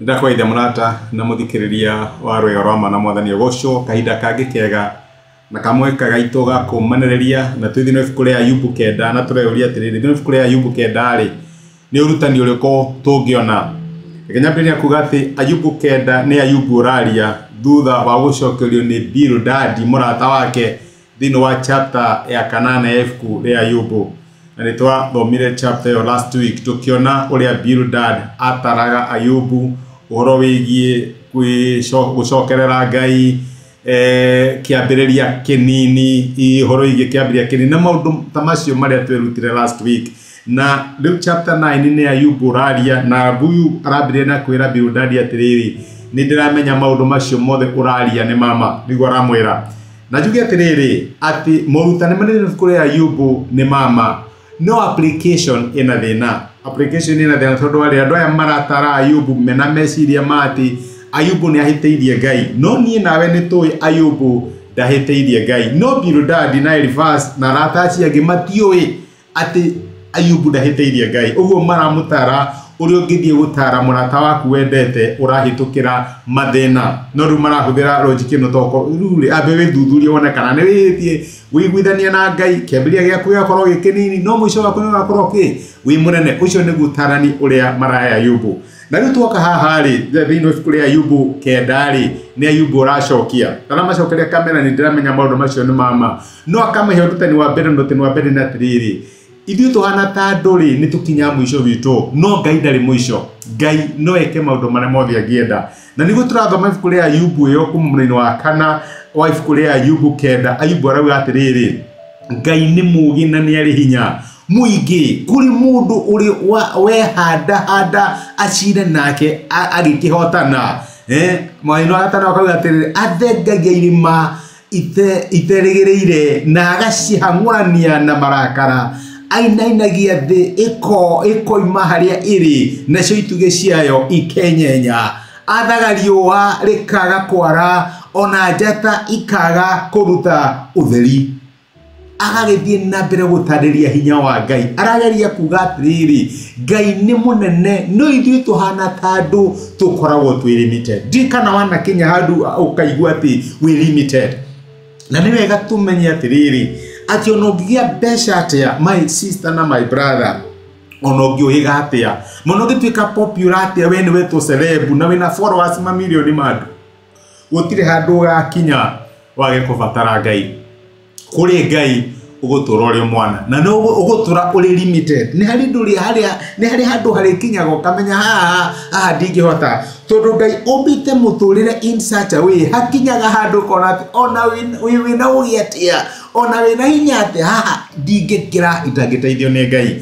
ndakwaithe mũrata na mũthikĩrĩria wa rwĩga rwa mana mwathani ũgocwo kahinda kangĩ kega na kamweka gaitũ ga kũmanereria na twĩthĩ no ibuku rĩa ayubu kenda na tũreyũria atĩrĩrĩ thĩinĩ wa ibuku rĩa ayubu kenda rĩ nĩ ũrutani ũrĩkũ tũngĩona reke nyambĩrĩria kuga atĩ ayubu kenda nĩ ayubu ũraria thutha wa gũcokerio nĩ bildadi mũrata wake thĩinĩ wa chapter ya kanana ya ibuku rĩa ayubu na nĩ twathomire chapter ĩyo last week tũkĩona ũrĩa bildad ataraga ayubu ũhoro wĩgiĩ kwĩco- gũcokerera ngai eh, kĩambĩrĩria kĩnini ihoro igĩ kĩambĩrĩria kĩnini na maũndũ ta macio marĩa twerutire last week na rĩu chapter 9 nĩ ya Ayubu ũraria na huyu arambĩrĩria na kwĩra Bildadi atĩrĩrĩ nĩ ndĩramenya maũndũ macio mothe ũraria nĩ mama nĩguo aramwĩra na njuge atĩrĩrĩ atĩ moruta nĩ manene kũrĩ Ayubu nĩ mama no application ĩna thĩna application ĩna thĩna tondũ warĩ andũ aya maratara ayubu mena meciria ma atĩ ayubu nĩ ahĩtĩirie ngai no niĩ nawe nĩ tũĩ ayubu ndahĩtĩirie ngai no bildadi na elifas na arata acio angĩ matiũĩ atĩ ayubu ndahĩtĩirie ngai ũguo maramũtara ũrĩa ũngĩthiĩ gũtara mũrata waku wendete ũrahĩtũkĩra mathĩna no rĩu marahũthĩra logic ĩno toko rĩu rĩ ambe wĩthuthurie wone kana nĩ wĩhĩtie wĩiguithania na ngai kĩambĩrĩria gĩaku gĩgakorwo gĩ kĩnini no mũico waku nĩũgakorwo kĩ wĩ mũnene ũcio nĩguo tarani ũrĩa maraya ayubu na rĩu tuoka haha rĩ thĩinĩ wa ibuku rĩa ayubu kenda rĩ nĩ ayubu ũracokia ndaramacokeria kamera nĩ ndĩramenya maũndũ macio nĩ mama no akamahe ũrutani wa mbere na ũrutani wa mbere nĩ atĩrĩrĩ Ithuĩ tũhana ta andũ rĩ, nĩ tũkinyaga mũico witũ, no Ngai ndarĩ mũico. Ngai no eke maũndũ marĩa mothe angĩenda. Na nĩguo tũrathoma ibuku rĩa Ayubu ĩyo kuma mũraini wa kana wa ibuku rĩa Ayubu kenda, Ayubu arauga atĩrĩrĩ, Ngai nĩ mũũgĩ na nĩ arĩ hinya mũingĩ kũrĩ mũndũ ũrĩ wa- wehandahanda acire nake a- agĩkĩhotana. Eh, mũraini wa gatano akauga atĩrĩrĩ, athengagia irĩma ite, iterĩgĩrĩire na agacihang'ũrania na marakara ainainagia thĩ ĩko ĩkoima harĩa ĩrĩ nacio itugĩ ciayo ikenyenya athaga riũa rĩkaga kwara ona njata ikaga kũruta ũtheri agagĩthiĩ na mbere gũtarĩria hinya wa ngai arageria kuga atĩrĩrĩ ngai nĩ mũnene no ithuĩ tũhana ta andũ tũkoragwo twĩ limited ndiĩ kana wanakinya handũ ũkaigua atĩ wĩ limited na nĩ wega tũmenye atĩrĩrĩ atĩ ona ũngĩgĩa mbeca atĩa my sister na my brother ona ũngĩũhĩga atĩa mũno ũngĩtuĩka popular atĩa we nĩwe tũ celeb na wĩna followers mamirioni ma andũ Gũtirĩ handũ ũgakinya wage kũbatara Ngai. Kũrĩ Ngai ũgũtũra ũrĩ mwana na nĩ ũgũtũra ũrĩ limited. Nĩ harĩ ndũrĩ harĩa nĩ harĩ handũ harĩkinyaga ũkamenya haha haha ndingĩhota. Tondũ Ngai ũmbĩte mũtũrĩre in such a way hakinyaga handũ ũkona atĩ ona wĩna ũgĩ atĩa ona wĩna hinya atĩa haha ndingĩkĩra itangĩteithio nĩ Ngai.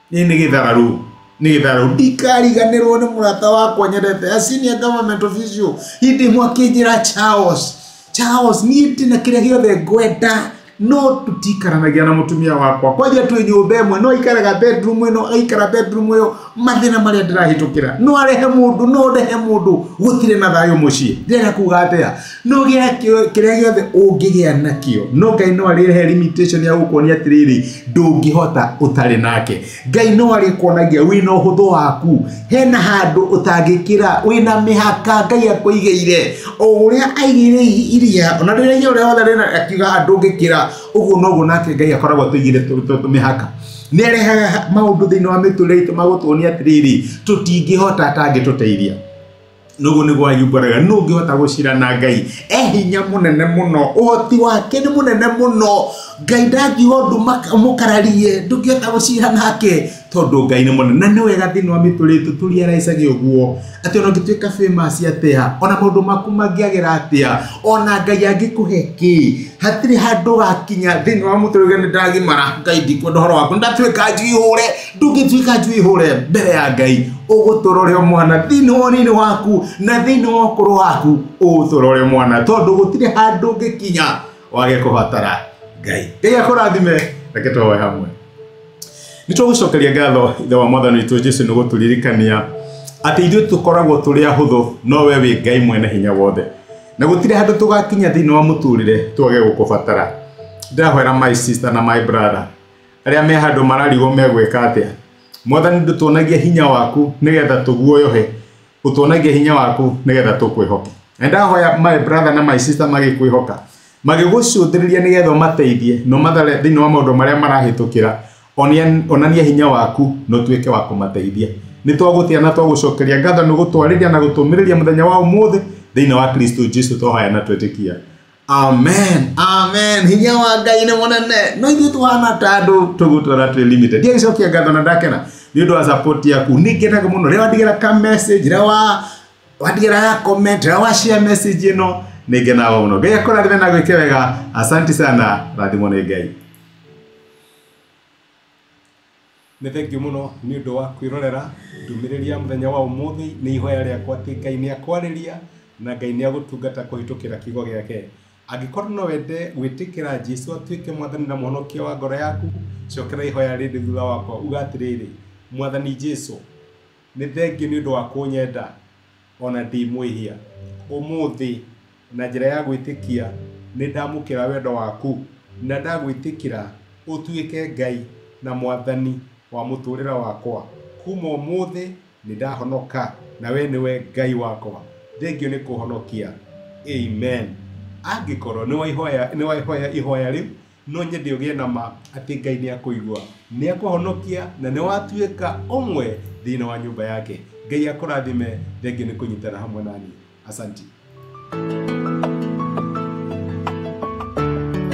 Nĩ nĩ gĩthararũ. Nĩ gĩthararũ. Ndikariganĩrwo nĩ mũrata wakwa nyendete. A senior government official. Hĩndĩ ĩmwe akĩnjĩra Charles. Charles, niĩ ndĩ na kĩrĩa gĩothe ngwenda no tũtikaranagia na mũtumia wakwa kwanja twĩ nyũmba ĩmwe no aikaraga bedroom ĩno aikara bedroom ĩyo mathĩna marĩa ndĩrahĩtũkĩra no arehe mũndũ no ndehe mũndũ gũtirĩ na thayũ mũciĩ ndĩrenda kuga atĩa no gĩa kĩo- kĩrĩa gĩothe ũngĩgĩa nakĩo no ngai no arĩrehe limitation ya gũkuonia atĩrĩrĩ ndũngĩhota ũtarĩ nake ngai no arĩkuonagia wĩna ũhũthũ waku hena handũ ũtangĩkĩra wĩna mĩhaka ngai akũigĩire o ũrĩa aigĩire i- iria ona rĩrĩa iria ũrĩa wothe rĩna akiuga "Ah, ndũngĩkĩra ũguo noguo nake ngai akoragwo atũigĩire tũ- tũ- tũmĩhaka nĩ arehaga maũndũ thĩinĩ wa mĩtũrĩre itũ magũtuonia atĩrĩrĩ tũtingĩhota atangĩtũteithia Nũgũ nĩ gwa yumbũraga nũ ũngĩhota gũcira na Ngai e hinya mũnene mũno ũhoti wake nĩ mũnene mũno Ngai ndangiuga ũndũ mũkararie ndũngĩhota gũcira nake tondũ Ngai nĩ mũnene na nĩ wega thĩinĩ wa mĩtũrĩ itũ tũriaraicage ũguo atĩ ona ũngĩtuĩka famous atĩa ona maũndũ maku mangĩagĩra atĩa ona Ngai angĩkũhe kĩ hatirĩ handũ ũgakinya thĩinĩ wa mũtũrĩre nĩ ndagimara Ngai ndikwenda ũhoro waku nĩ ndatuĩka njihũre ndũngĩtuĩka njũihũre mbere ya ngai ũgũtũrore mwana thĩinĩ wa ũnini waku na thĩinĩ wa ũkũrũ waku ũgũtũrore mwana tondũ gũtirĩ handũ ũngĩkinya wage kũbatara ngai ngai akũrathime reke tũhoe hamwe nĩ tũgũcokeria ngatho ithe wa mwathani witũ jesu nĩ gũtũririkania atĩ ithuĩ tũkoragwo tũrĩ ahũthũ no we wĩ ngai mwene hinya wothe na gũtirĩ handũ tũgakinya thĩinĩ wa mũtũrĩre twage gũkũbatara ndahoera my sister na my brother Arĩa me handũ mararigwo megwĩka atĩa? Mwathani ndũtuonagia hinya waku nĩgetha tũguoyohe, ũtuonagia hinya waku nĩgetha tũkwĩhoke. Na ndahoya my brother na my sister magĩkwĩhoka, magĩgũcũthĩrĩria nĩgetha ũmateithie no mathare thĩinĩ wa maũndũ marĩa marahĩtũkĩra, onia- onania hinya waku na ũtuĩke wa kũmateithia. Nĩ twagũtĩa na twagũcokeria ngatho nĩ gũtwarĩria na gũtũmĩrĩria mũthenya wa ũmũthĩ thĩinĩ wa Kristo Jesu twahoya na twĩtĩkia. amen amen hinya wa ngai nĩ mũnene no ithuĩ tũhana ta andũ tũgũtwara twĩ limited ndiye gĩcokia ngatho na ndakena nĩ ũndũ wa support yaku nĩ ngenaga mũno rĩrĩa wandigĩra ka message rĩrĩa wa wandigĩra ya comment rĩrĩa wa share message ĩno nĩ ngenaga mũno ngai akũrathime na gwĩke wega asanti sana rathimwo nĩ ngai Nĩ thengiũ mũno nĩ ũndũ wa kwĩrorera ndũmĩrĩri ya mũthenya wa ũmũthĩ. Nĩ ihoya rĩakwa atĩ Ngai nĩ akwarĩria na Ngai nĩ agũtungata kũhĩtũkĩra kiugo gĩake. Angĩkorwo no wende gwĩtĩkĩra Jesu atuĩke mwathani na mũhonokia wa ngoro yaku, cokera ihoya rĩrĩ thutha wakwa uga atĩrĩrĩ, Mwathani Jesu, nĩ thengiũ nĩ ũndũ wa kũnyenda. o na ndĩ mwĩhia. Ũmũthĩ, na njĩra ya gwĩtĩkia, nĩ ndamũkĩra wendo waku, na ndagwĩtĩkĩra ũtuĩke Ngai na Mwathani wa mũtũũrĩre wakwa. Kuuma ũmũthĩ nĩ ndahonoka, na wee nĩwe Ngai wakwa. Thengio nĩ kũhonokia. Amen. Angĩkorũo nĩ waihoya, nĩ waihoya ihoya rĩu, No nyende ũgĩe na ma atĩ Ngai nĩ akũigua, nĩ akũhonokia, na nĩ watuĩka ũmwe thĩinĩ wa nyũmba yake. Ngai akũrathime, thengiũ nĩ kũnyitana hamwe nani. Asanti.